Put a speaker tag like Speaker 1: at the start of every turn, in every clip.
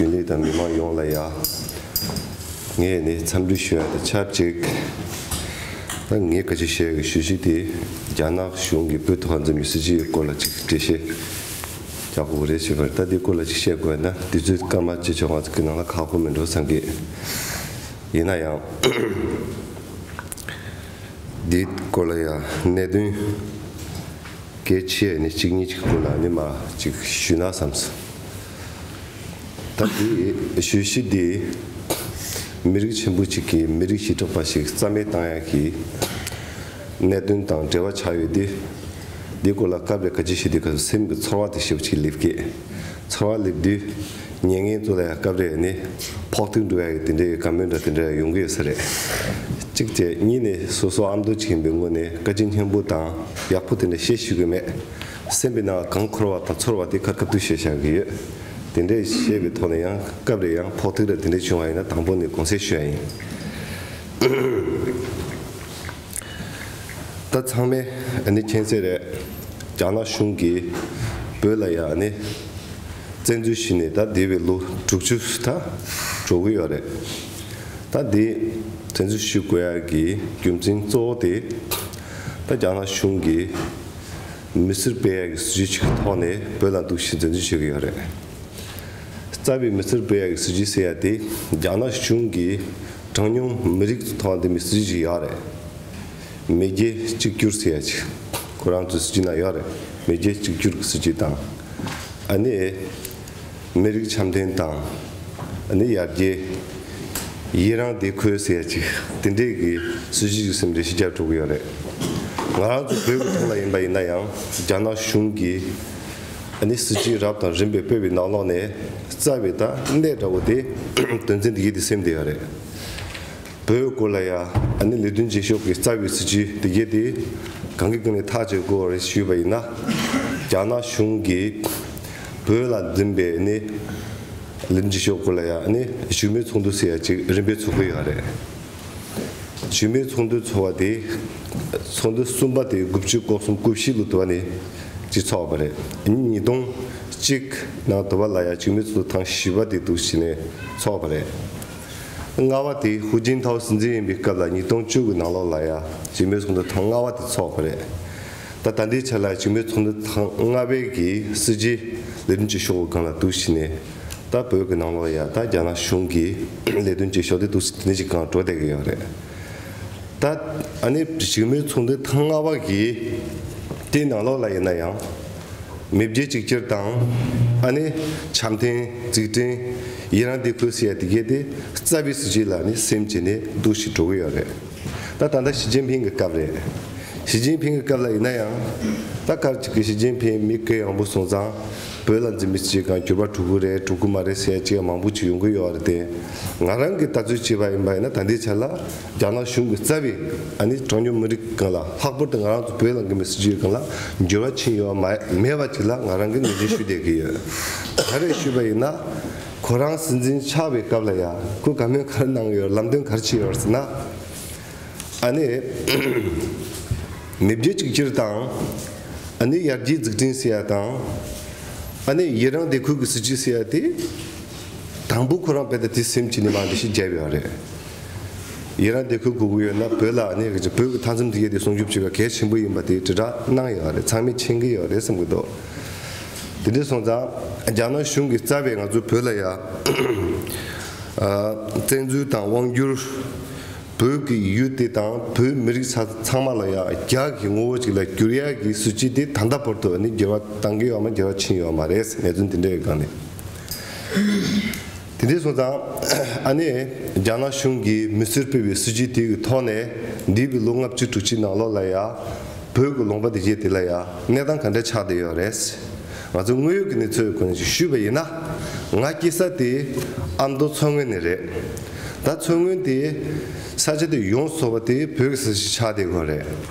Speaker 1: རྒྱུན་ལས་དང་མི་མང་ཡོངས་ལ་ཡང། ངས་ནི་འཚམས་འདྲི་ཞུ་ཡ་དང་ཆབས་ཅིག་ད་ངས་ག་ཅིག་བཤད་ཞུ་གཞི་དེ་རྒྱ་ནག་གཞུང་གི་བོད་དོ་ཧ་འཛིན་པའི་སྲིད་བྱུས་ཡི་སྐོར་ལ་ཅིག་འགྲེལ་བཤད་རྒྱག་དགོས་རེད་བྱས་པ་རེད་ད་དེ་སྐོར་ལ་ཅིག་བཤད་དགོས་ཡ་ན་དུས་ཚོད་སྐར་མ་གཅིག་ཆོག་ང་ཚོ་གི་ནང་ལ་ཁག་པོ་མི་འགྲོ་བསམ་གི་ཡིན་ན་ཡང། དེའི་སྐོར་ལ་ཡང་གནད་དོན་གལ་ཆེ་ཡ་ནི་གཅིག་གཉིས་ཀྱི་སྐོར་ལ་ནི་མ་ཅིག་ཞུས་ན་བསམ་སོང། ད་དེ་ཞོལ་ཞི་བདེ། མི་རིགས་ཆེན་པོ་གཅིག་གི་མི་རིགས་ཞི་དྲག་པ་ཞིག་རྩ་མེད་བཏང་ཡག་གི། གནད་དོན་དང་འབྲེལ་བ་ཆགས་ཡོད་དེ། དེ་སྐོར་ལ་སྐབས་རེ་ག་ཅི་བྱེད་དེ་ག་སེམས་ཀྱི་ཚོར་བ་དེ་ཞེས་པ་ཅིག་སླེབས་སྐད། ཚོར་བ་སླེབས་དུས། ཉེ་ངན་ཚོ་ལ་ཡང་སྐབས་རེ་ནི། ཕོག་ཐུག་འགྲོ་ཡག་གི་དེ་འདྲའི་ག་མོད་འདྲ་དེ་འདྲ་ཡང་ཡོང་གི་ཡོད་ས་རེད། གཅིག་དེ་གཉིས་ནི་སོ་སོ་ཨ་མདོ་གཅིག་ཡིན་པའི་ངོས་ནས་ག་ཅི་སྙན་པོ་དང་ཡག་པོ་དེ་འདྲ་བཤད་ཤེས་གི་མེད། སེམས་པའི་ནང་གང་འཁོར་བ་དང་ཚོར་བ་དེ་ག་གབ་ཏུ་བཤད་བཞག་གི་ཡོད། དེ་འདྲའི་བཤད་པའི་ཐོག་ནས་ཡང་སྐབས་རེ་ཡང་ཕོག་ཐུག་རེ་དེ་འདྲ་བྱུང་བ་ཡིན་ན་དང་པོ་ནས་གོང་གསལ་ཞུ་ཡ་ཡིན། ད་ཚང་མས་ནི་མཁྱེན་གསལ་རེད། རྒྱ་ནག་གཞུང་གིས་བོད་ལ་ཡང་ནི་བཙན་འཛུལ་བྱས་ནས་ད་འདས་པའི་ལོ་དྲུག་ཅུ་ད་འགྲོ་གི་ཡོད་རེད། ད་འདི་བཙན་འཛུལ་ཞུ་དགོས་ཡ་གི་རྒྱུ་མཚན་གཙོ་བོ་དེ། ད་རྒྱ་ནག་གཞུང་གིས། མི་སེར་སྤེལ་ཡག་གི་སྲིད་ཇུས་ཤིག་གི་ཐོག་ནས་བོད་ལ་འདུག་བཞིན་འཛིན་བཟུང་བྱེད་ཀྱི་ཡོད་རེད། རྩ་བའི་མི་སེར་སྤེལ་ཡག་གི་སྲིད་ཇུས་ཟེར་ཡ་དེ་རྒྱ་ནག་གཞུང་གི་གྲངས་ཉུང་མི་རིགས་ཚོ་ཐོག་འདི་མི་སྲིད་ཇུས་ཤིག་ཡག་རེད། མེས་རྒྱལ་གཅིག་གྱུར་ཟེར་ཡ་ཅིག་ཁོ་རང་ཚོའི་སྲིད་ཇུས་ནང་ཡག་རེད་མེས་རྒྱལ་གཅིག་གྱུར་གྱི་སྲིད་ཇུས་དང་ཨ་ནེ། མི་རིགས་འཆམ་མཐུན་དང། ནི་ཡར་རྒྱས། ཡི་རངས་དེ་ཁོའི་ཟས་གཅིག་དེ་འདྲས་ཀྱི་སྲིད་ཇུས་ཀྱི་སིམ་འདྲེ་བཞི་བརྒྱ་དྲུག་གི་ཡོད་རེད། ང་རང་ཚོ་བོད་ཀྱི་ཐོག་ལ་ཡིན་པ་ཡིན་ན་ཡང་རྒྱ་ནག་གཞུང་གི་ནི་སྲིད་ཇུས་རབ་དང་རིམ་པས་བོད་པའི་ནག་ལོག་ནས་རྩ་བའི་ད་གནས་འདྲ་བོ་དེ་དོན་ཚན་འདི་གི་དེ་སིམ་དེ་ཡོད་རེད། བོད་སྐོར་ལ་ཡ་ཨ་ནི་ལས་དོན་བྱེད་ཤོག་གི་རྩ་བའི་སྲིད་ཇུས་དེ་གལ་ཏེ་གང་གི་སྟེང་ནས་ཐག་གཅོད་དགོས་བ་རེད་ཞུས་པ་ཡིན་ན། རྒྱ་ནག་གཞུང་གིས་བོད་ལ་འཛིན་པའི་ནི་ལས་དོན་བྱེད་ཤོག་སྐོར་ལ་ཡ་ཨ་ནི་བཞུགས་མོལ་ཚོགས་འདུ་ཟེར་ཡ་གཅིག་རིམ་པས་ཚོགས་ཀྱི་ཡོད་རེད། བཞུགས་མོལ་ཚོགས་འདུ་ཚོགས་བ་དེ་ཚོགས་འདུ་གསུམ་པ་དེ་དགུ་བཅུ་སྐོར་གསུམ་དགུ་བཞི་ལོ་དུ་བ་ནི་གཅིག་ཚོགས་པ་རེད་ཉིན་ཉིས་སྟོང་གཅིག་ནང་དུ་བ་ལ་ཡ་བཞུགས་མོལ་ཚོགས་འདུ་ཐང་བཞི་བ་དེ་དུ་བྱས་ནས་ཚོགས་པ་རེད། ལྔ་བ་དེ་ཧུའུ་ཅིན་ཐའོ་སྲིད་འཛིན་ཡིན་པའི་སྐབས་ལ་ཉིས་སྟོང་བཅུ་གི་ནང་ལོགས་ལ་ཡ་བྱེས་མོའི་ཚོགས་འདུ་ཐང་ལྔ་བ་དེ་ཚོགས་པ་རེད། ད་ད་ལྟའི་ཆར་ལ་ཡ་བྱེས་མོའི་ཚོགས་འདུ་ཐང་ལྔ་བའི་གི་སྲིད་ཇུས་ལས་དོན་བྱེད་ཤོག་གང་ལ་གཏུགས་ཤིག་ནས་ད་བོད་གི་ནང་ལོགས་ཡ་ད་རྒྱ་ནག་གཞུང་གི་ལས་དོན་བྱེད་ཤོག་དེ་གཏུགས་སྲིད་དེ་འདི་ཅིག་གང་བྲོ་བསྡད་གི་ཡོད་རེད། ད་ཨ་ནི་བྱེས་མོའི་ཚོགས་འདུ་ཐང་ལྔ་བ་གི་དེའི་ནང་ལོགས་ལ་ཡིན་ན་ཡང། མི་བརྒྱད་གཅིག་གྱུར་དང། ཨ་ནི། བྱམས་ལྡན། རྫིག་ལྡན། ཡི་རང་དེ་ཁུལ་སི་ཡ་དེ་གས་ཏེ་རྩ་བའི་སྲིད་བྱུས་ལ་ནི་སེམས་བྱས་ནས་འདུག་བཞིན་འགྲོ་གི་ཡོད་རེད། ད་ད་ལྟ་ཞི་ཅིན་ཕིང་གི་སྐབས་རེད། ཞི་ཅིན་ཕིང་གི་སྐབས་ལ་ཡིན་ན་ཡང། ད་སྐར་གཅིག་གི་ཞི་ཅིན་ཕིང་མི་སྐད་ཡངས་པོ་གསུང་ཙང་བོད་ལ་འཛིན་མི་སྤྱི་གང་གྱུར་པ་དྲུག་གུ་རེད་དྲུག་གུ་མ་རེད་ཟེར་ཡ་ཅི་ཡ་མང་པོ་ཅིག་ཡོང་གི་ཡོད་རེད་དེ། ང་རང་གིས་ལྟ་ཚུལ་བྱས་པ་ཡིན་པ་ཡིན་ན་ད་ལྟའི་ཆ་ལ་རྒྱ་ནག་གཞུང་གི་རྩ་བའི་གྲངས་ཉུང་མི་རིགས་གང་ལ་ལྷག་པར་དུ་ང་རང་ཚོ་བོད་ལ་འགན་པའི་སྲིད་ཇུས་གང་ལ་འགྱུར་བ་ཕྱིན་ཡོད་པ་མེད་པ་ཅིག་ལ་ང་རང་གིས་ངོས་འཛིན་ཞུ་བསྡད་ཀྱི་ཡོད། ག་རེ་ཞུས་པ་ཡིན་ན། ཁོ་རང་སྲིད་འཛིན་ཆགས་པའི་སྐབས་ལ་ཡ་གུ་ག་མོས་ག་རེ་གནང་ཡོད་ལམ་སྟོན་ག་རེ་བྱས་ཡོད་ཟེར་ན། ཨ་ནི། མེས་རྒྱལ་གཅིག་གྱུར་དང། ཨ་ནི་ཡར་རྒྱས་འཛུགས་སྐྲུན་ཟེར་ཡ་དང། ཨ་ནི་ཡི་རང་བདེ་འཁོད་ཀྱི་སྲིད་ཇུས་ཟེར་ཡ་དེ། དང་པོ་ཁོ་རང་དཔེ་ལྟ་དེ་སེམས་ཀྱི་ནས་མ་འདི་ཞེས་བརྗེད་ཡོད་རེད། ཡི་རང་སྡེ་ཁུལ་དགུ་དགུ་ཡོད་ན་བོད་ལ་ནི་བོད་ཀྱི་མཐའ་མཚམས་འདི་ག་དེ་སྲུང་སྐྱོབ་བྱེད་པ་གལ་ཆེན་པོ་ཡིན་པ་དེ་དྲིལ་བསྒྲགས་གནང་ཡག་རེད་ཚང་མས་མཁྱེན་གྱི་ཡག་རེད་བསམ་གྱི་འདུག་དེ་འདྲས་སོང་ཙང་རྒྱ་ནག་གཞུང་གི་རྩ་བའི་ང་ཚོ་བོད་ལ་ཡ། བཙན་འཛུལ་དང་དབང་བསྒྱུར། བོད་ཀྱི་ཡུལ་དེ་དང་བོད་མི་རིགས་ཚང་མ་ལ་ཡ་རྒྱ་གི་ངོ་བོ་ཅིག་ལ་བསྒྱུར་ཡག་གི་སྲིད་བྱུས་དེ་ད་ལྟ་བར་དུ་ནི་འགྱུར་བ་བཏང་གི་ཡོད་མ་འགྱུར་བ་ཕྱིན་ཡོད་མ་རེད་ངེས་དོན་དེ་འདྲས་ཡོད་གང་ནས། དེ་འདྲའི་སོང་ཙང། ཨ་ནེ། རྒྱ་ནག་གཞུང་གིས་མི་ཚེར་སྤེལ་བའི་སྲིད་ཇུས་དེའི་ཐོག་ནས། འདས་པའི་ལོ་ལྔ་བཅུ་དྲུག་ཅུའི་ནང་ལོགས་ལ་ཡང། བོད་ཀྱི་ལུང་པ་དེ་བཞེས་དེ་ལ་ཡང་གནས་སྟངས་ག་འདྲ་ཆགས་བསྡད་ཡོད་རེད། ང་ཚོས་དངོས་ཡོད་ཀྱི་གནས་ཚུལ་གང་ཞིག་ཞུས་པ་ཡིན་ན། ང་སྐྱེས་ས་དེ་ཨ་མདོ་མཚོ་སྔོན་ནས་རེད། ད་མཚོ་སྔོན་དེ། ས་ཆ་དེ་ཡོངས་འཚོ་བ་དེ་བོད་ཀྱི་ས་ཞིག་ཆགས་བསྡད་ཁོ་རེད།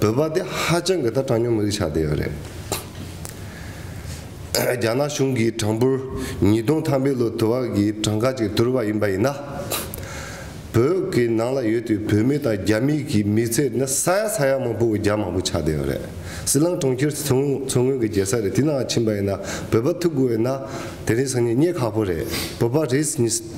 Speaker 1: བོད་པ་དེ་ཧ་ཅང་གི་ད་དྲང་སྙོམས་རིགས་ཆགས་བསྡད་ཡོད་རེད། རྒྱ་ནག་གཞུང་གིས་གྲངས་འབོར་ཉིས་སྟོང་ཐམ་པའི་ལོ་དུ་བ་གི་གྲངས་ཀ་ཅིག་དུར་བ་ཡིན་པ་ཡིན་ན། བོད་ཀྱི་ནང་ལ་ཡོད་དུས་བོད་མི་དང་རྒྱ་མི་གི་མི་ཚེ་ནི་ས་ཡ་ས་ཡ་མང་པོ་བརྒྱ་མང་པོ་ཆགས་བསྡད་ཡོད་རེད། སྲིད་ལང་གྲོང་ཁྱེར་མཚོ་སྔོན་གི་རྒྱལ་ས་རེད་དེ་ནང་ཕྱིན་པ་ཡིན་ན་བོད་པ་ཐུག་དགོས་ཡོད་ན་དེ་རིང་སང་ཉིན་རྙེད་ཁག་པོ་རེད་བོད་པ་རེད།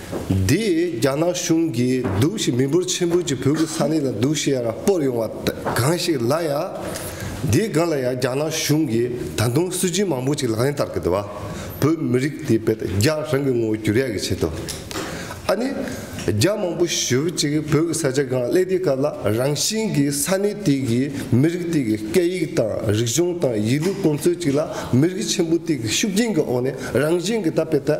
Speaker 1: འདིས་རྒྱ་ནག་གཞུང་གིས་སྡུག་ཤི་མི་འབོར་ཆེན་པོ་གྱི་བོད་ཀྱི་ས་གནས་ལ་སྡུག་ཤི་ཡ་ར་སྤོར་ཡོང་བ་གང་ཞིག་ལ་ཡ། འདིའི་སྒང་ལ་ཡ་རྒྱ་ནག་གཞུང་གིས་ད་དུང་སྲོལ་རྒྱུན་མང་པོ་ཅིག་ལག་ལེན་བསྟར་གི་འདུག་བ། བོད་མི་རིགས་དེ་བོད་རྒྱ་རང་གི་ངོ་བོ་བསྒྱུར་ཡ་གི་ཆེད་དུ། ཨ་ནི། རྒྱ་མང་པོ་ཞུ་བ་ཅིག་བོད་ཀྱི་ས་ཆ་སྒང་གླེ་དེའི་སྐབས་ལ་རང་བཞིན་གྱི་ས་གནས་དེ་གི་མི་རིགས་དེ་གི་སྐད་ཡིག་དང་རིག་གཞུང་དང་ཡིད་ལུས་ཀུན་སྩོལ་ཅིག་ལ་མི་རིགས་ཆེན་པོ་དེ་གི་ཤུགས་རྐྱེན་གི་འོག་ནས་རང་བཞིན་གྱི་ད་བོད་ད།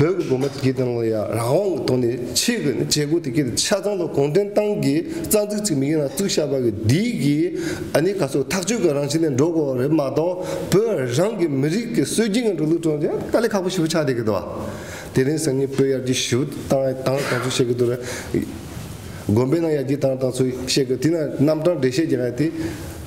Speaker 1: བོད་ཀྱི་དགོན་པ་དེ་གའི་སྟེང་ལ་ཡང་རང་དབང་གི་ཐོག་ནས་ཕྱིའི་གི་ནི་བྱེད་སྒོ་དེ་གའི་ཆ་ཚང་དུ་གུང་ཁྲན་ཏང་གི་རྩ་འཛུགས་ཅིག་མིག་ཡོད་ན་བཙུགས་ཤག་པ་གི་འདི་གི་ཨ་ནི་ག་ཚོད་ཐག་གཅོད་གི་རང་བཞིན་ནས་འགྲོ་དགོས་བ་རེད་མ་གཏོགས་བོད་རང་གི་མི་རིགས་ཀྱི་སྲོལ་རྒྱུན་གི་འགྲོ་ལུགས་དྲུང་ཆེ་ཏཱ་ལའི་ཁ་པོ་ཞེ་པོ་ཆགས་བསྡད་གི་འདུག་བ། དེ་རིང་སང་ཉིན་བོད་ཡར་རྒྱས་ཞུ་དང་དང་ག་ཚོད་བཤད་གི་འདུག་རེད། དགོན་པའི་ནང་ཡར་རྒྱས་དང་དང་ཚོད་བཤད་གི་དེ་ན་རྣམ་གྲངས་འགྲེལ་བཤད་རྒྱག་གི་དེ་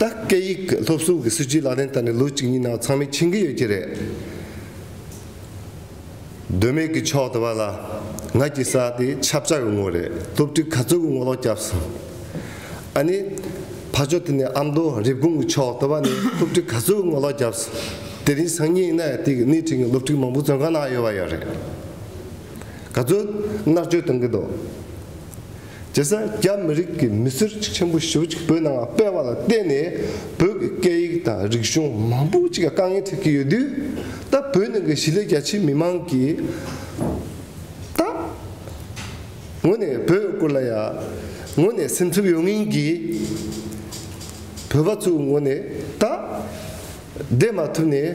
Speaker 1: ད་སྐད་ཡིག་སློབ་གསོ་གི་སྲིད་ཇུས་ལག་ལེན་བསྟར་ནས་ལོ་གཅིག་གཉིས་ནང་ཚང་མས་ཕྱིན་གྱི་ཡོད་ཀྱི་རེད། དོན་མེད་ཀྱི་ཕྱོགས་དེ་བ་ལ་ང་ཀྱི་ས་དེ་ཆབ་བཅག་གི་ངོ་རེད་སློབ་ཁྲིད་ག་ཚོད་ཀྱི་ངོ་ལོག་བསྐྱབ་སོང། ཨ་ནི། ཕ་ཕྱོགས་དེ་ནས་ཨ་མདོ་རེབ་གོང་གི་ཕྱོགས་དེ་བ་ནས་སློབ་ཁྲིད་ག་ཚོད་ཀྱི་ངོ་ལོག་བསྐྱབ་སོང། དེ་རིང་སང་ཉིན་གནའ་དེང་གི་སྣེ་ཁྲིད་ངས་སློབ་ཁྲིད་མང་པོ་བཙོན་ཁང་ནང་གཡོལ་བ་ཡོད་རེད། ག་ཚོད་མནར་གཅོད་གཏོང་གི་འདུག་རྗེ་སར་རྒྱ་མི་རིགས་ཀྱི་མི་སེར་ཆེན་པོ་ཞེ་བོ་ཅིག་བོད་ནང་སྤེལ་བ་ལ་བརྟེན་ནས་བོད་ཀྱི་སྐད་ཡིག་དང་རིག་གཞུང་མང་པོ་ཅིག་དཀའ་ངལ་འཕྲད་ཀྱི་ཡོད་དུས་ད་བོད་ནང་གི་གཞིས་ལས་རྒྱ་ཆེའི་མི་མང་གིས་ད་ངོ་ནས་བོད་སྐོར་ལ་ཡ་ངོ་ནས་སེམས་འཚབ་ཡོད་ངེས་ཀྱི་བོད་པ་ཚོའི་ངོ་ནས་ད་བསྡད་མ་ཐུབ་ནས།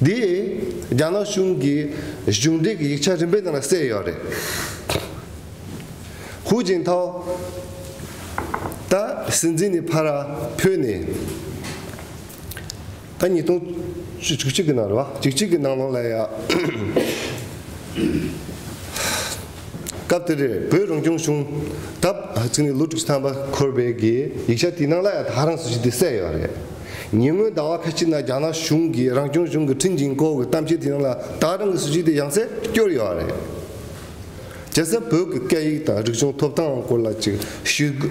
Speaker 1: འདི་རྒྱ་ནག་གཞུང་གི་གཞུང་འབྲེལ་གྱི་ཡིག་ཆ་རིམ་པའི་ནང་ལ་གསལ་ཡོད་རེད། ཧུའུ་ཅིན་ཐའོ། ད་སྲིད་འཛིན་ནི་ཕ་ར་བྷོད་ནས། ད་ཉིས་སྟོང་བཅུ་གཅིག་གི་ནང་རེད་བ། བཅུ་གཅིག་གི་ནང་ལོ་ལ་ཡ། སྐབས་དེར་བོད་རང་སྐྱོང་གཞུང་སྟབས་ལོ་དྲུག་ཅུ་ཐམ་པ་འཁོར་བའི་དགེ། ཡིག་ཆ་དེའི་ནང་ལ་ཡང་དག་རང་སུ་ཞིག་དེ་གསལ་ཡོད་རེད། ཉེ་སྔོན་ཟླ་བ་ཁ་ཅིག་ན་རྒྱ་ནག་གཞུང་གིས་རང་སྐྱོང་གཞུང་གི་ཁྲིན་ཅིན་ཀོའུ་གི་གཏམ་བཤད་དེའི་ནང་ལ་དག་རང་གི་སུ་ཞིག་དེ་ཡང་གསལ་བསྐྱོར་ཡོད་རེད། རྒྱལ་སར་བོད་ཀྱི་སྐད་ཡིག་དང་རིག་གཞུང་ཐོབ་ཐང་སྐོར་ལ་ཅིག་ཞུས།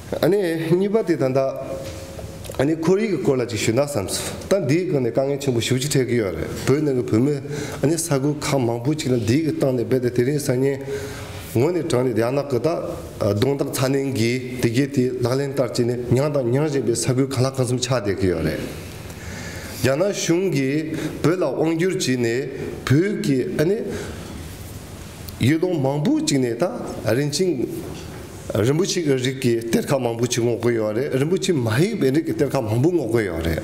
Speaker 1: ནི་གཉིས་པ་དེ་ད་ལྟ་ནི་ཁོར་ཡུག་གི་སྐོར་ལ་ཅིག་ཞུས་ན་བསམ་ཚུལ་ད་འདིའི་སྐོར་ནས་དཀའ་ངལ་ཆེན་པོ་ཞུགས་ཅི་འཕྲད་ཀྱི་ཡོད་རེད་བོད་ནང་གི་བོད་མི་ནི་ས་ཁུལ་ཁག་མང་པོ་ཅིག་ལ་འདིའི་གི་སྟངས་ནས་རྦད་དེ་དེ་རིང་སང་ཉིན་ངོ་ནས་དྲངས་ནས་ཡག་ན་གི་ད་གདོང་ཐག་ཚ་ནན་གྱིས་དེ་གའི་དེ་ལག་ལེན་བསྟར་ཅིག་ནི་མྱངས་དང་མྱངས་བཞིན་པའི་ས་ཁུལ་གང་ལ་གང་གསུམ་ཆགས་བསྡད་ཀྱི་ཡོད་རེད། རྒྱ་ནག་གཞུང་གིས་བོད་ལ་དབང་བསྒྱུར་བྱས་ནས་བོད་ཀྱི་ནི་ཡུལ་ལུང་མང་པོ་ཅིག་ནས་ད་རིན་ཆེན་རིན་པོ་ཆེ་གི་རིགས་ཀྱི་གཏེར་ཁ་མང་པོ་ཆེ་སྔོག་དགོས་ཡོད་རེད་རིན་པོ་ཆེ་མ་ཡིན་པའི་རིགས་ཀྱི་གཏེར་ཁ་མང་པོ་སྔོག་དགོས་ཡོད་རེད།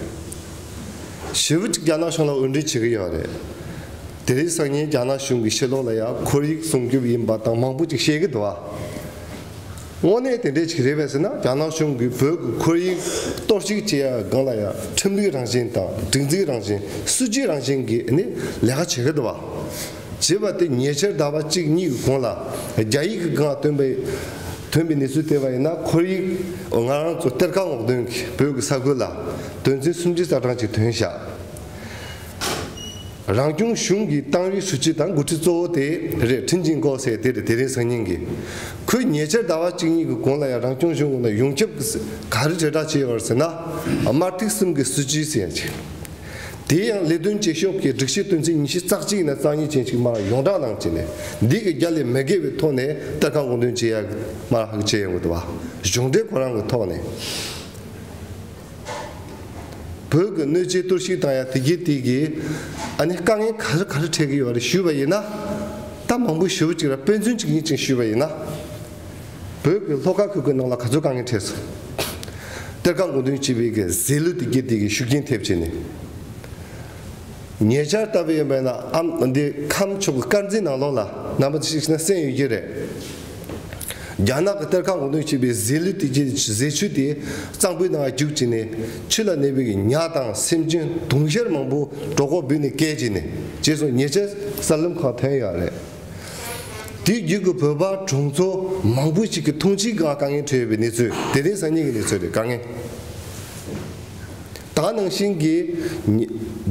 Speaker 1: ཞེ་བུ་གཅིག་རྒྱ་ནག་གཞུང་ལ་འོས་འགྲན་བྱེད་ཀྱི་ཡོད་རེད། དེ་རིང་སང་ཉིན་རྒྱ་ནག་གཞུང་གི་ཤེས་རྟོགས་ལ་ཡང་ཁོར་ཡིག་སྲུང་སྐྱོབ་ཡིན་པ་དང་མང་པོ་ཅིག་བཤད་ཀྱི་འདུག་ཨ། དངོས་གནས་དེ་འདྲས་ཅིག་རེད་བས་ཟེར་ན་རྒྱ་ནག་གཞུང་གིས་བོད་ཀྱི་ཁོར་ཡིག་གཏོར་བཤིག་བྱེད་ཡ་གང་ལ་ཡང་ཁྲིམས་ལུགས་རང་བཞིན་དང་སྒྲིག་འཛིགས་རང་བཞིན་སྲིད་ཇུས་རང་བཞིན་གྱི་ནི་ལས་ཀ་བྱེད་ཀྱི་འདུག་ཨ། ཅེས་པ་དེ་ཉེ་ཆར་ཟླ་བ་གཅིག་གཉིས་ཀྱི་གོང་ལ་རྒྱ་ཡིག་གི་སྒང་ལ་ཐོན་པའི་ཐོན་པའི་གནས་ཚུལ་དེ་བ་ཡིན་ན་ཁོར་ཡིག་ང་རང་ཚོ་གཏེར་ཁ་སྔོག་འདོན་གྱི་བོད་ཀྱི་ས་ཁུལ་ལ་དོན་ཚན་སུམ་ཅུ་རྩ་གྲངས་ཅིག་ཐོན་བཞག་རང་སྐྱོང་གཞུང་གི་ཏང་ཨུའི་ཧྲུའུ་ཅི་དང་འགོ་ཁྲིད་གཙོ་བོ་དེ་རེད་ཁྲིན་ཅིན་ཀོའོ་སེ་དེ་རེད་དེ་རིང་སང་ཉིན་གྱི་ཁོས་ཉེ་ཆར་ཟླ་བ་གཅིག་གཉིས་ཀྱི་གོང་ལ་ཡང་རང་སྐྱོང་གཞུང་ལ་ཡོངས་ཁྱབ་གྱི་ག་རེ་དྲིལ་བསྒྲགས་བྱས་ཡོད་པར་ཟེར་ན་དམར་ཐིག་གསུམ་གྱི་སྲིད་ཇུས་ཟེར་ཡང་ཆེ། དེའི་ཡང་ལས་དོན་བྱེད་ཤོག་གི་སྒྲིག་གཞི་དོན་ཚན་ཉིས་བཞི་རྩ་གཅིག་ནས་རྩ་གཉིས་ཅན་ཞིག་མར་ཡོངས་བསྒྲགས་གནང་བྱས་ནས་འདི་གི་རྒྱ་ལས་མི་བརྒལ་བའི་ཐོག་ནས་གཏེར་ཁ་མགོ་འདོན་བྱེད་ཡ་མར་ཧག་བྱས་ཡོང་གི་འདུག་བ་གཞུང་འབྲེལ་གོ་རང་གི་ཐོག་ནས་བོད་གི་གནོད་བྱེད་གཏོར་བཤིག་དང་ཡ་དེ་གི་དེ་གི་ཨ་ནི་དཀའ་ངལ་ག་རེ་ག་རེ་འཕྲད་གི་ཡོད་རེད་ཞུས་པ་ཡིན་ན་ད་མང་པོ་ཞུ་བ་ཅིག་ར་དཔེ་མཚོན་གཅིག་གཉིས་ཅན་ཞུས་པ་ཡིན་ན། བོད་ཀྱི་ལྷོ་ཁ་ཁུལ་གྱི་ནང་ལ་ག་ཚོད་གང་གི་གྲས་སུ། གཏེར་ཁ་མགོ་འདོན་བྱེད་པའི་གི་ཟས་ལུད་དེ་དགེ་སྡིག་གི་ཤུགས་རྐྱེན་ཐེབས་བྱས་ནས། ཉེ་ཆར་ལྟ་བུ་ཡིན་པས་ན་ཨམ་འདི་ཁམས་ཕྱོགས་ཀྱི་དཀར་མཛེས་ནང་ལོགས་ལ་ནང་པ་ཞིག་ན་གསན་ཡོད་ཀྱི་རེད། རྒྱ་ནག་གི་གཏེར་ཁ་མགོ་འདོན་བྱེད་པའི་ཟས་ལུད་དེ་གྱི་ཟས་ཆུ་དེ་གཙང་པོའི་ནང་རྒྱུག་བྱས་ནས་ཆུ་ལ་གནས་པའི་ཉག་དང་སེམས་ཅན་དུང་ཞལ་མང་པོ་གྲོགས་ཁོག་འབུས་ནས་བསྐལ་བྱས་ནས་རྗེས་སུ་ཉེ་ཆར་གསར་ལམ་ཁང་ཐོན་ཡོད་རེད། དེའི་རྒྱུད་ཀྱི་བོད་པ་གྲོང་ཚོ་མང་པོ་ཞིག་གི་ཐོངས་ཕྱིའི་སྒང་དཀའ་ངལ་འཕྲད་ཡོད་པའི་གནས་ཚུལ་དེ་རིང་སང་ཉིན་གྱི་གནས་ཚུལ་རེད་དཀའ་ངལ་དག་ནང་བཞིན་གྱི་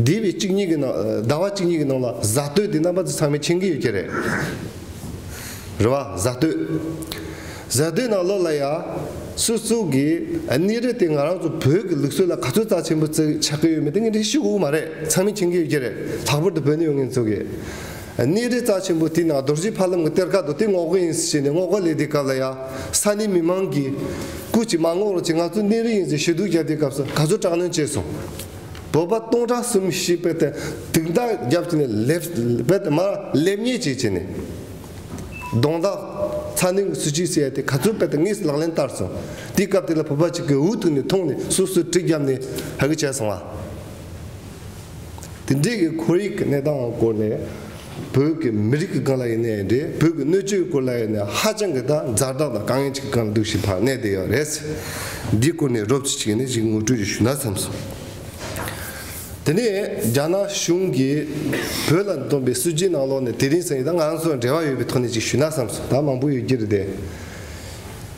Speaker 1: འདས་པའི་གཅིག་གཉིས་ཀྱི་ནང་ཟླ་བ་གཅིག་གཉིས་ཀྱི་ནང་ལ་གཟའ་སྟོད་དེ་རྣམ་པ་ཚང་མས་མཁྱེན་གྱི་ཡོད་ཀྱི་རེད་རེད་བ་གཟའ་སྟོད། གཟའ་སྟོད་ནང་ལོགས་ལ་ཡ་སུ་སུ་གི་གནས་རི་དེ་ང་རང་ཚོ་བོད་ཀྱི་ལུགས་སྲོལ་ལ་ག་ཚོད་རྩ་ཆེན་པོ་བརྩི་ཆགས་ཀྱི་ཡོད་མེད་དེ་ངས་འདྲི་ཤེས་དགོས་ཀྱི་མ་རེད་ཚང་མས་མཁྱེན་གྱི་ཡོད་ཀྱི་རེད་ལྷག་པར་དུ་བོད་ནས་ཡོང་མཁན་ཚོ་གིས་གནས་རི་རྩ་ཆེན་པོ་དེ་ན་རྡོ་རྗེ་ཕ་ལམ་གྱི་གཏེར་ཁ་དང་དེ་སྔོག་པོ་ཡིན་ཟེར་བཤད་ནས་སྔོག་པ་ལས་དེའི་སྐབས་ལ་ཡ་ས་ནས་མི་མང་གིས། སྐུ་ཅིག་མ་སྔོག་རོགས་བྱེད་ང་ཚོ་གནས་རི་ཡིན་ཟེར་ཞུ་གཏུག་བརྒྱབ་དེའི་སྐབས་སུ་ག་ཚོད་དྲག་གནོན་བྱས་སོང། བོད་པ་སྟོང་ཕྲག་གསུམ་བཞི་པས་དེར་དུག་མདའ་བརྒྱབ་བྱས་ནས་ལེབ་བེད་དེ་མར་ལེབ་ཉེས་བྱས་བྱས་ནས། གདོང་འདག། ཚ་ནན་གྱི་སུ་ཅིའི་སེ་ཡ་དེ་ག་ཚོད་བེད་དེ་དངོས་སུ་ལག་ལེན་བསྟར་སོང། དེའི་སྐབས་དེ་ལ་བོད་པ་ཅིག་གིས་འུ་ཐུག་ནས་མཐོང་ནས་སུ་སུ་གྲི་བརྒྱབ་ནས་ཧ་གི་བྱས་སོང་བ། དེ་འབྲེལ་གྱི་ཁོར་ཡུག་གི་གནས་སྟངས་སྐོར་ནས་བོད་ཀྱི་མི་རིགས་ཀྱི་སྒང་ལ་ཡིན་ནའི་རེད་བོད་ཀྱི་སྣོད་བཅུད་སྐོར་ལ་ཡིན་ནའི་ཧ་ཅང་གི་དག་མཛའ་དག་དང་དཀའ་ངལ་ཅིག་གི་སྒང་ལ་འདུག་བཞིན་པར་གནས་བསྡད་ཡོད་རེད། འདིའི་སྐོར་ནས་རོབ་ཅིག་ཅིག་ནས་ཅིག་ངོ་སྤྲོད་ཅིག་ཞུ་ན་བསམ་སོང། དེ་ནས་རྒྱ་ནག་གཞུང་གིས་བོད་ལ་བཏོན་པའི་སྲིད་ཇུས་ནང་ལོགས་ནས་དེ་རིང་སང་ཡིན་ད་ང་ཚོ་འབྲེལ་བ་ཡོད་པའི་ཐོག་ནས་ཅིག་ཞུ་ན་བསམ་སོང་ད་མང་པོ་ཡོད་ཀྱི་རེད་དེ།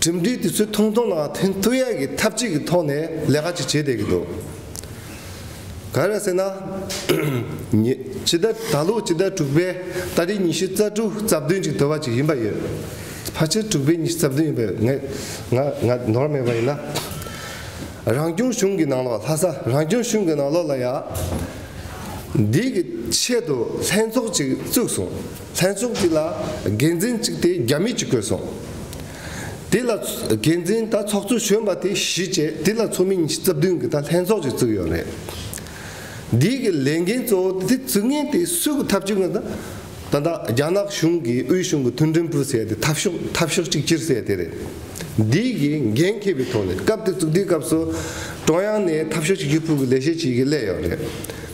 Speaker 1: གྲིམ་འགྲུལ་དེ་ཚོའི་ཐུང་ཐུང་ལའང་ཐིན་ཐུ་ཡས་ཀྱིས་འཐབ་ཇུས་ཀྱི་ཐོག་ནས་ལས་ཀ་ཅིག་བྱེད་བསྡད་ཀྱི་འདུག་ག་རེད་ཟེར་ན། ཕྱི་ཟླ་ད་ལོ་ཕྱི་ཟླ་དྲུག་པའི་ཟླ་རེའི་ཉི་ཤུ་རྩ་དྲུག་རྩ་བདུན་ཅིག་དོར་བ་ཅིག་ཡིན་པ་ཡོད། ཕར་ཕྱིན་དྲུག་པའི་ཉི་ཤུ་རྩ་བདུན་ཡིན་པ་ཡོད་ང་ང་ནོར་མེད་པ་ཡིན་ན། རང་སྐྱོང་གཞུང་གི་ནང་ལོགས་ལྷ་ས་རང་སྐྱོང་གཞུང་གི་ནང་ལོགས་ལ་ཡང་འདིའི་གི་ཆེད་དུ་ལྷན་ཚོགས་ཅིག་བཙུགས་སོང། ལྷན་ཚོགས་འདི་ལ་འགན་འཛིན་གཅིག་དེ་རྒྱ་མི་གཅིག་དགོས་སོང། དེ་ལ་འགན་འཛིན་དང་ཚོགས་གཙོ་གཞོན་པ་དེ་བཞི་བཅས་དེ་ལ་ཚོགས་མི་ཉི་ཤུ་རྩ་བདུན་གྱི་ད་ལྷན་ཚོགས་ཅིག་བཙུགས་ཡོད་རེད། འདིའི་གི་ལས་འགན་གཙོ་བོ་དེ་བཙུགས་ངེས་དེ་སུས་གི་ཐབས་ཅིག་ངང་དང་ད་ད་རྒྱ་ནག་གཞུང་གི་དབུས་གཞུང་གི་མཐུན་འགྲན་འཕུར་སའི་དེ་ཐབས་ཤོག་ཐབས་ཤོག་ཅིག་སྤྱིར་སའི་དེ་རེད། འདིའི་གི་འགན་ཁེ་བའི་ཐོག་ནས་སྐབས་དེ་བཙུགས་དེའི་སྐབས་སུ་ཀྲོང་ཡང་ནས་ཐབས་ཤོག་ཅིག་སྤྱིར་འཕུར་གི་ལས་བྱེད་ཅིག་གི་སླད་ཡོད་རེད།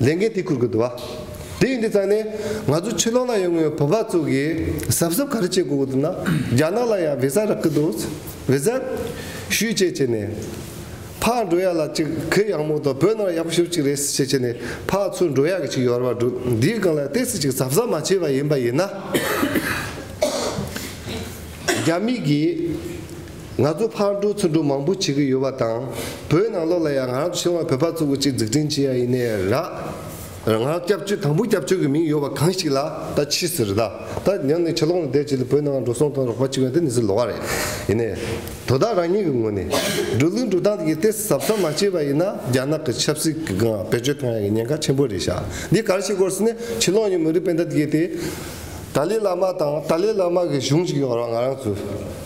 Speaker 1: ལས་འགན་དེ་འཁུར་དགོས་འདུག་བ། དེ་ཡིན་དུས་ཙང་ནས་ང་ཚོ་ཕྱི་ལོགས་ན་ཡོང་ངོས་བོད་པ་ཚོ་གི་ཟབ་ཟབ་ག་རེ་བྱེད་དགོས་གི་འདུག་ན་རྒྱ་ནག་ལ་ཡང་བི་ཟ་རག་གི་འདུག་བི་ཟ། ཞུས་བྱས་བྱས་ནས། ཕག་འགྲོ་ཡག་ལ་ཅིག་གི་ཡག་མོ་དང་བོད་ནང་ཡག་པོ་ཞུ་ཅིག་རེད་ཟེར་བྱས་བྱས་ནས་ཕག་ཚུར་འགྲོ་ཡག་གི་ཅིག་ཡོར་བ་འདུག་འདིའི་སྒང་ལ་གཏད་སི་ཅིག་ཟབ་ཟབ་མ་བྱས་པ་ཡིན་པ་ཡིན་ན། རྒྱ་མིག་གིས། ང་ཚོ་ཕར་འགྲོ་ཚུར་འགྲོ་མང་པོ་བྱེད་ཀྱི་ཡོད་པ་དང། བོད་ནང་ལོགས་ལ་ཡང་ང་རང་ཚོ་ཕྱི་ལོགས་ལ་བོད་པ་གཙོ་བོ་གཅིག་འཛུགས་སྐྲུན་བྱེད་ཡ་ཡིན་ནའི་ར། ང་རང་སྐྱབས་བཅོལ་དང་པོ་སྐྱབས་བཅོལ་གྱི་མིང་ཡོད་པ་གང་ཞིག་ལ་ད་མཆིས་ཟེར་ད་ད་ཡང་ནས་ཕྱི་ལོགས་ལ་བསྡད་བྱས་ལ་བོད་ནང་འགྲོ་སོང་དང་རོགས་པ་བྱེད་ཡ་དེ་ནི་ཟིག་ལོགས་ར་ཡིན་ནའི། དོ་བདག་རང་ཉིད་ཀྱི་ངོས་ནས་འགྲོ་ལུགས་འགྲོ་སྟངས་དེ་གས་ཟབ་ཟབ་མ་བྱས་པ་ཡིན་ན་རྒྱ་ནག་གི་ཆབ་སྲིད་ཀྱི་སྒང་བེད་སྤྱོད་གཏོང་ཡ་གྱི་ཉེན་ཁ་ཆེན་པོ་རེད་ཤག་འདི་གར་ཞིག་བསྐོར་ཟེར་ནས་ཕྱི་ལོགས་ཀྱི་མི་རིགས་སྤེན་ད་དེ་གས་ཏེ། ཏཱ་ལའི་བླ་མ་དང་ཏཱ་ལའི་བླ་མ་གྱི་གཞུང་ཞིག་ཡོང་རོགས་ང་རང་ཚོའི།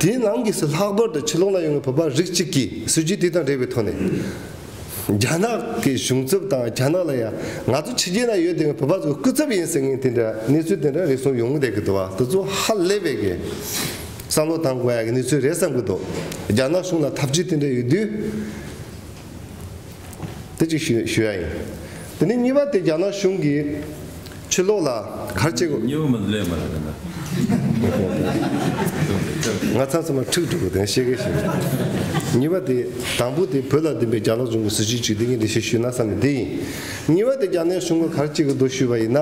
Speaker 1: དེའི་ནང་གི་སུ་ལྷག་པར་དུ་ཕྱི་ལོགས་ན་ཡོང་བའི་བོད་པ་རིགས་གཅིག་གིས་སྲིད་ཇུས་དེ་དང་འབྲེལ་བའི་ཐོག་ནས། རྒྱ་ནག་གི་གཞུང་ཚབ་དང་རྒྱ་ནག་ལ་ཡང་ང་ཚོ་ཕྱི་རྒྱལ་ན་ཡོད་དེ་བས་བོད་པ་ཚོ་སྐུ་ཚབ་ཡིན་ཟེར་མཁན་དེ་འདྲ་གནས་ཚུལ་དེ་འདྲ་རེ་ཟུང་ཡོང་གི་རེད་གི་འདུག་བ་དེ་ཚོ་ཧ་ལས་པའི་གི་བསམ་བློ་བཏང་དགོས་ཡ་གི་གནས་ཚུལ་རེད་བསམ་གི་འདུག་རྒྱ་ནག་གཞུང་ལ་ཐབས་ཇུས་དེ་འདྲ་ཡོད་དུས། དེ་གཅིག་ཞུ་ཞུ་ཡ་ཡིན། དེ་ནས་གཉིས་པ་དེ་རྒྱ་ནག་གཞུང་གིས་ཕྱི་ལོགས་ལ་གར་བྱེད་དགོས། གཉིས་པ་མི་ལེགས་མ་
Speaker 2: རེད་དེ་འདྲ།
Speaker 1: ང་ཚང་ཚང་མ་འཁྲུག་འགྲོ་གི་དེ་ཤེས་གི་ཤེས་གི། གཉིས་པ་དེ་དང་པོ་དེ་བོད་ལ་བདེན་པའི་རྒྱ་ནག་གཞུང་གི་སྲིད་བྱུས་གཅིག་དེ་གཉིས་དེ་ཤེས་ཞུས་ན་བསམ་པའི་དེ་ཡིན། གཉིས་པ་དེ་རྒྱ་ནག་གཞུང་གིས་གར་བྱེད་གི་འདུག་ཞུས་པ་ཡིན་ན།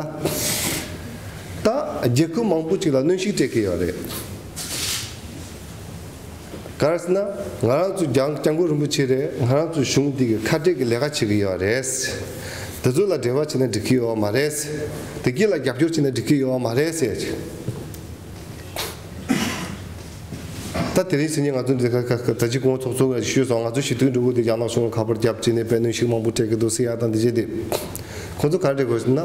Speaker 1: ད་རྒྱལ་ཁུལ་མང་པོ་ཅིག་ལ་གནོན་ཤུགས་སྤྲད་གི་ཡོད་རེད། ག་རེ་ཟེར་ན་ང་རང་ཚོ་རྒྱང་རྒྱང་གོ་རིན་པོ་ཆེ་རེད་ང་རང་ཚོ་གཞུང་འདི་གི་ཁ་བྲལ་གི་ལས་ཀ་བྱེད་གི་ཡོད་རེད། དེ་ཚོ་ལ་འབྲེལ་བ་བྱེད་ན་འགྲིག་གི་ཡོད་མ་རེད། དེ་སྐྱིད་ལ་རྒྱབ་སྐྱོར་བྱེད་ན་འགྲིག་གི་ཡོད་མ་རེད། ད་དེ་རིང་ཕྱི་ཉིན་ང་ཚོ་འདི་ག་ག་ད་ཅི་གོང་ཚོགས་ཚོགས་ཞུས་སོང་ང་ཚོ་ཞི་དུལ་འགྲོ་གི་འདུག་རྒྱ་ནག་གཞུང་ལ་ཁ་པར་བརྒྱབ་བྱས་ནས་བེད་ནོན་ཞིག་མང་པོ་སྤྲད་གི་འདུག་སེ་ཡ་དང་འདི་བྱས་འདི། ཁོང་ཚོ་ག་རེ་བྲིས་དགོས་ཟེར་ན།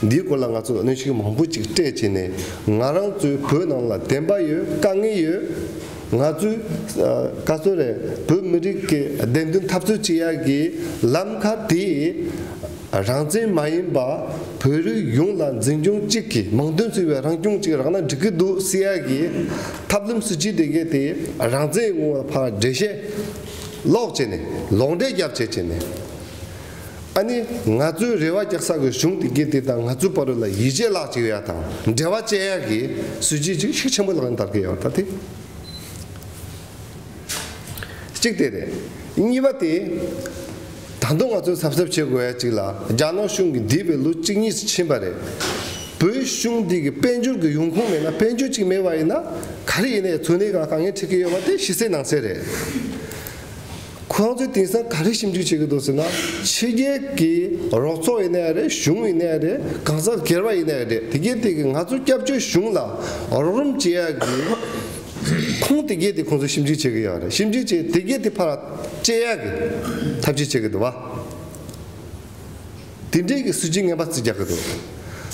Speaker 1: འདིའི་སྐོར་ལ་ང་ཚོས་གནོན་ཤུགས་མང་པོ་ཅིག་སྤྲད་བྱས་ནས་ང་རང་ཚོའི་བོད་ནང་ལ་བདེན་པ་ཡོད་དཀའ་ངལ་ཡོད། ང་ཚོས་བཀའ་བསོད་རེ་བོད་མི་རིགས་ཀྱི་བདེན་དོན་འཐབ་རྩོད་བྱེད་ཡག་གི་ལམ་ཁ་དེ་རང་བཙན་མ་ཡིན་པ་བོད་རིགས་ཡོངས་ལ་འཛིན་སྐྱོང་གཅིག་གི་མིང་དོན་ཟེར་བའི་རང་སྐྱོང་གཅིག་རག་ན་འགྲིག་གི་འདུག་བསྲི་ཡག་གི་ཐབས་ལམ་སུ་བྱེད་དགོས་དེ་རང་བཙན་ཡོང་བའི་བར་འགྲེལ་བཤད་ཀློག་བྱས་ནས་ལོག་འགྲེལ་རྒྱབ་བྱེད་བྱས་ནས། ཨ་ནི། ང་ཚོའི་རེ་བ་རྒྱག་ས་གི་གཞུང་དེ་གི་དེ་དང་ང་ཚོའི་བར་ལ་ཡིད་ཆེས་ལག་ཅིག་ཡ་དང་འབྲེལ་བ་ཅེ་ཡ་གི་གཟུད་བྱེད་ཅིག་ཤུགས་ཆེན་པོ་ལག་ན་དར་གི་ཡ་བ་ད་དེ། གཅིག་དེ་རེད། གཉིས་པ་དེ། ད་དུང་ང་ཚོས་གཟབ་གཟབ་བྱེད་དགོས་ཡ་ཅིག་ལ་རྒྱ་ནག་གཞུང་གི་འདི་བས་ལོ་གཅིག་གཉིས་སུ་ཕྱིན་པ་རེད། བོད་གཞུང་འདི་གི་དཔལ་འབྱོར་གི་ཡོང་ཁུངས་མེད་ན་དཔལ་འབྱོར་ཅིག་མེད་པ་ཡིན་ན་ག་རེ་ཡིན་ན་ཡ་ཚོད་ནས་གང་ག་ངས་འཁྲིད་གི་ཡོད་པ་དེ་ཤི་སེ་ནང་སེ་རེད། ཁོང་ཚོས་དེང་སང་ག་རེ་ཞིབ་འཇུག་བྱེད་ཀྱི་འདུག་ཟེར་ན། ཕྱི་རྒྱལ་གྱི་རོགས་ཚོགས་ཡིན་ན་ཡང་རེད་གཞུང་ཡིན་ན་ཡང་རེད་གང་ཟག་སྒེར་པ་ཡིན་ན་ཡང་རེད་དེ་གའི་སྟེང་གི་ང་ཚོ་སྐྱབས་བཅོལ་གཞུང་ལ་རོགས་རམ་བྱེད་ཡག་གི་ཁུངས་དེ་གའི་སྟེང་ཁོང་ཚོས་ཞིབ་འཇུག་བྱེད་ཀྱི་ཡག་རེད་ཞིབ་འཇུག་བྱས་དེ་གའི་སྟེང་ཕར་བཅད་ཡག་གི་ཐབས་ཇུས་བྱེད་ཀྱི་འདུག་བ། དེ་འབྲེལ་གྱི་སྲིད་ཇུས་ངན་པ་བརྩི་རྒྱག་གི་འདུག་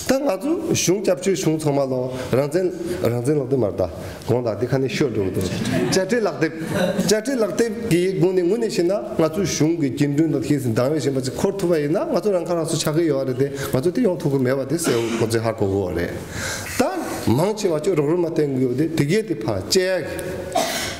Speaker 1: ད་ང་ཚོའི་གཞུང་སྐྱབས་བཅོལ་བྱུང་ཚང་མ་ལོ་རང་བཙན་རང་བཙན་ལབ་དེ་མར་ད་གོང་ད་དེ་ཁ་ནས་ཤོད་འགྲོ་གི་འདུག་བཅར་འདྲི་ལག་དེབ་བཅར་འདྲི་ལག་དེབ་ཀྱི་སྒོ་ནས་ངོས་ནས་བཤད་ན་ང་ཚོའི་གཞུང་གི་རྒྱུན་གྲོན་དང་ཁེ་སི་འདང་བའི་བཞིན་པ་ཅིག་འཁོར་ཐུབ་པ་ཡིན་ན་ང་ཚོ་རང་ཁ་རང་གསོ་ཆགས་ཀི་ཡོད་རེད་དེ་ང་ཚོ་དེ་ཡོང་ཐུབ་ཀི་མེད་པ་དེ་གསལ་བོ་ཁོང་ཚོས་ཧ་གོ་གི་རེད་ད། མང་ཆེ་བ་ཁྱོད་རོགས་རུལ་མ་བསྟེན་གི་ཡོད་དེ་དེ་གས་དེ་ཕར་བཅད་ཡག་གི།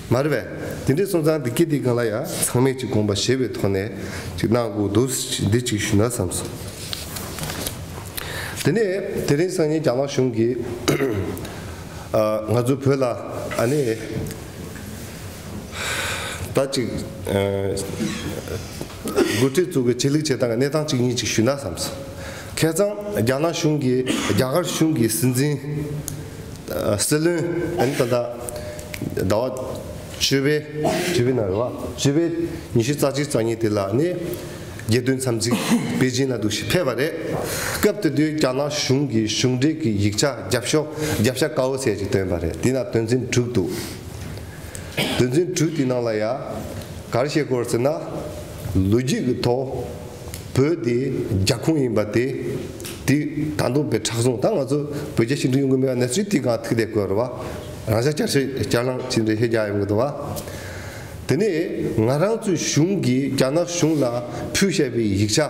Speaker 1: མ་རེད་པས། དེ་འདྲའི་སོང་ཙང་འདི་སྐད་དེ་གང་ལ་ཡང་ཚང་མས་ཅིག་དགོངས་པ་བཞེས་པའི་ཐོག་ནས་ཅིག་གནང་དགོས་འདུག་འདི་ཅིག་ཞུས་ན་བསམ་སོང། དེ་ནས་དེ་རིང་སང་ཉིན་རྒྱ་ནག་གཞུང་གིས་ང་ཚོའི་བོད་ལ་ཨ་ནེ་ད་ཅིག། འགོ་ཁྲིད་ཚོ་གི་ཆེད་ལུགས་བྱེད་སྟངས་ཀྱི་གནས་སྟངས་གཅིག་གཉིས་ཅིག་ཞུས་ན་བསམས་སོང། ཁེ་གཙང་རྒྱ་ནག་གཞུང་གིས་རྒྱ་གར་གཞུང་གི་སྲིད་འཛིན། སྲིད་བློན། ཨན་ད་ད། ཟླ་བ། བཅུ་བའི། བཅུ་བའི་ནང་རེད་བ། བཅུ་བའི་ཉི་ཤུ་རྩ་གཅིག་རྩ་གཉིས་དེ་ལ་ནི། རྒྱལ་དོན་འཚམས་གཟིགས་པེ་ཅིན་ལ་འདུག་ཞིག་ཕེབས་པ་རེད། སྐབས་དེ་དུས་རྒྱ་ནག་གཞུང་གི་གཞུང་འབྲེལ་གྱི་ཡིག་ཆ་རྒྱབ་ཤོག་རྒྱབ་ཤ་དཀར་བོ་ཟེར་ཅིག་བཏོན་པ་རེད་དེ་ན་དོན་ཚན་དྲུག་འདུག། དོན་ཚན་དྲུག་དེའི་ནང་ལ་ཡང། གར་བཤད་སྐོར་ཟེར་ན། ལོ་རྒྱུས་ཀྱི་ཐོག་བོད་དེ་རྒྱ་ཁུངས་ཡིན་པ་དེ། དེ་ད་དུང་བོད་ཁྲག་བཟུང་ད་ང་ཚོ་བོད་རྒྱ་ཞི་འགྲིག་ཡོང་གི་མེད་པ་ནས་ཚུལ་དེ་གང་ཐུགས་དད་བསྐོས་རོགས། རང་ཤག་བསྐྱར་བཤད་བསྐྱར་བླངས་བྱས་འདྲི་ཤེས་རྒྱ་ཡོང་གི་འདུག་བ། དེ་ནས་ང་རང་ཚོའི་གཞུང་གིས་རྒྱ་ནག་གཞུང་ལ་ཕུལ་བཤད་པའི་ཡིག་ཆ།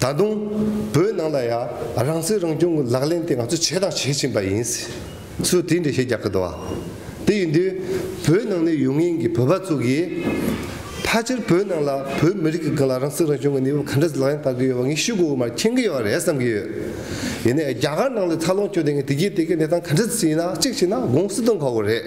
Speaker 1: ད་དུང། བོད་ནང་ལ་ཡང་རང་སྲིད་རང་སྐྱོང་གི་ལག་ལེན་དེ་ང་ཚོས་བྱས་དང་བྱེད་བཞིན་པ་ཡིན། སུས་དེ་འདྲ་ཞིག་རྒྱག་གི་འདུག་བ། དེ་ཡིན་དུས། བོད་ནང་ནས་ཡོད་ངེས་ཀྱི་བོད་པ་ཚོ་གིས། ཕ་ཕྱིར་བོད་ནང་ལ་བོད་མི་རིགས་ཀྱི་སྒང་ལ་རང་སྲིད་རང་སྐྱོང་གི་གནས་བབ་ག་འདྲ་ཞིག་ལག་ལེན་བསྟར་གི་ཡོད་པ་ངས་ཤུགས་དགོས་མ་མཁྱེན་གི་ཡོད་པ་རེད་བསམ་གྱི་ཡོད། ཡིན་ནའི་རྒྱ་གར་ནང་ལ་འཚར་ལོངས་བྱུང་དེ་ངས་དེ་རྒྱུད་དེ་གའི་གནས་སྟངས་ག་འདྲ་ཞིག་ཡིན་ན་གཅིག་བྱས་ན་དགོངས་སུ་གཏོང་དཀའ་བོ་རེད།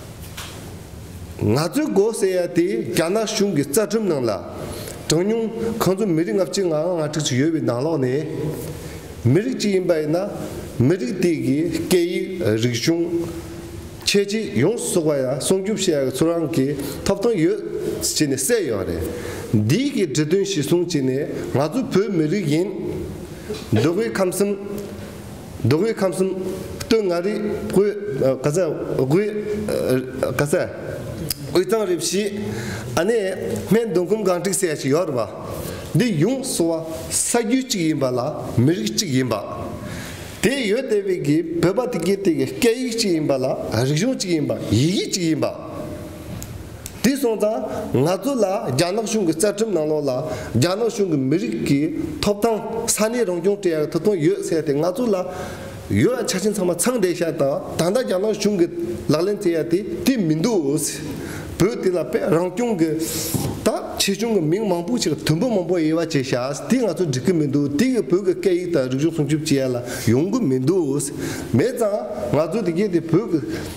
Speaker 1: ང་ཚོའི་མགོ་སེར་ཡ་དེས་རྒྱ་ནག་གཞུང་གི་རྩ་ཁྲིམས་ནང་ལ། གྲངས་ཉུང་གང་མཚུངས་མི་རིགས་ལྔ་བཅུ་ང་ལྔ་ང་དྲུག་ཅིག་ཡོད་པའི་ནང་ལོགས་ནས། མི་རིགས་གཅིག་ཡིན་པ་ཡིན་ན། མི་རིགས་དེ་གའི་སྐད་ཡིག་རིག་གཞུང། ཁྱད་ཆོས་ཡོངས་སུ་གསོག་པ་ཡང་སྲུང་སྐྱོབ་བྱེད་ཡག་གི་ཚུར་རང་གི་ཐོབ་ཐང་ཡོད་ཅེས་ནས་གསལ་ཡོད་པ་རེད། འདིའི་གའི་འབྲི་དོན་གཞི་བཟུང་བྱས་ནས་ང་ཚོ་བོད་མི་རིགས་ཡིན། འདོད་དགུའི་ཁམས་གསུམ། རྡོ་བོའི་ཁམས་གསུམ། སྟོད་མངའ་རིས་དབུས། ག་ས་དབུས། ག་ས། དབུས་གཙང་རི་བཞི། ཨ་ནེ། སྨད་མདོ་ཁུམ་སྒང་དཀྲིག་སེ་ཞིག་ཡོད་རེད་པ། འདི་ཡོངས་སུ་བ་ས་རྒྱུད་གཅིག་ཡིན་པ་ལ་མི་རིགས་གཅིག་ཡིན་པ། དེ་ཡོད་བལྟས་བས་ཀྱི་བོད་པ་དེ་གའི་དེ་གའི་སྐད་ཡིག་གཅིག་ཡིན་པ་ལ་རིག་གཞུང་གཅིག་ཡིན་པ་ཡིག་ཡིག་གཅིག་ཡིན་པ། དེ་སོང་ཙང་ང་ཚོ་ལ་རྒྱ་ནག་གཞུང་གི་རྩ་ཁྲིམས་ནང་ལོགས་ལ་རྒྱ་ནག་གཞུང་གི་མི་རིགས་ཀྱི་ཐོབ་ཐང་ས་གནས་རང་སྐྱོང་དེ་ཡང་ད་དུང་ཡོད་ཚད་དེ་ང་ཚོ་ལ་ཡོད་ཡ་ཆ་ཆེན་ཚང་མ་ཚང་བསྡད་ཤག་དང་ད་ལྟ་རྒྱ་ནག་གཞུང་གི་ལག་ལེན་བཙལ་ཡ་དེ་དེ་མི་འདུག་བོད་དེ་ལ་དཔེ་རང་སྐྱོང་གི་ད་ཆེ་ཆུང་གི་མིང་མང་པོ་ཞིག་དོན་པོ་མང་པོ་དབྱེ་བ་འབྱེད་ཤག་དེ་ང་ཚོ་འགྲིག་གི་མི་འདུག་དེ་གི་བོད་གི་སྐད་ཡིག་དང་རིག་གཞུང་སྲུང་སྐྱོབ་བྱེད་ཡ་ལ་ཡོང་གི་མི་འདུག་མེད་ཙང་ང་ཚོ་དེ་གའི་དེ་བོད་གི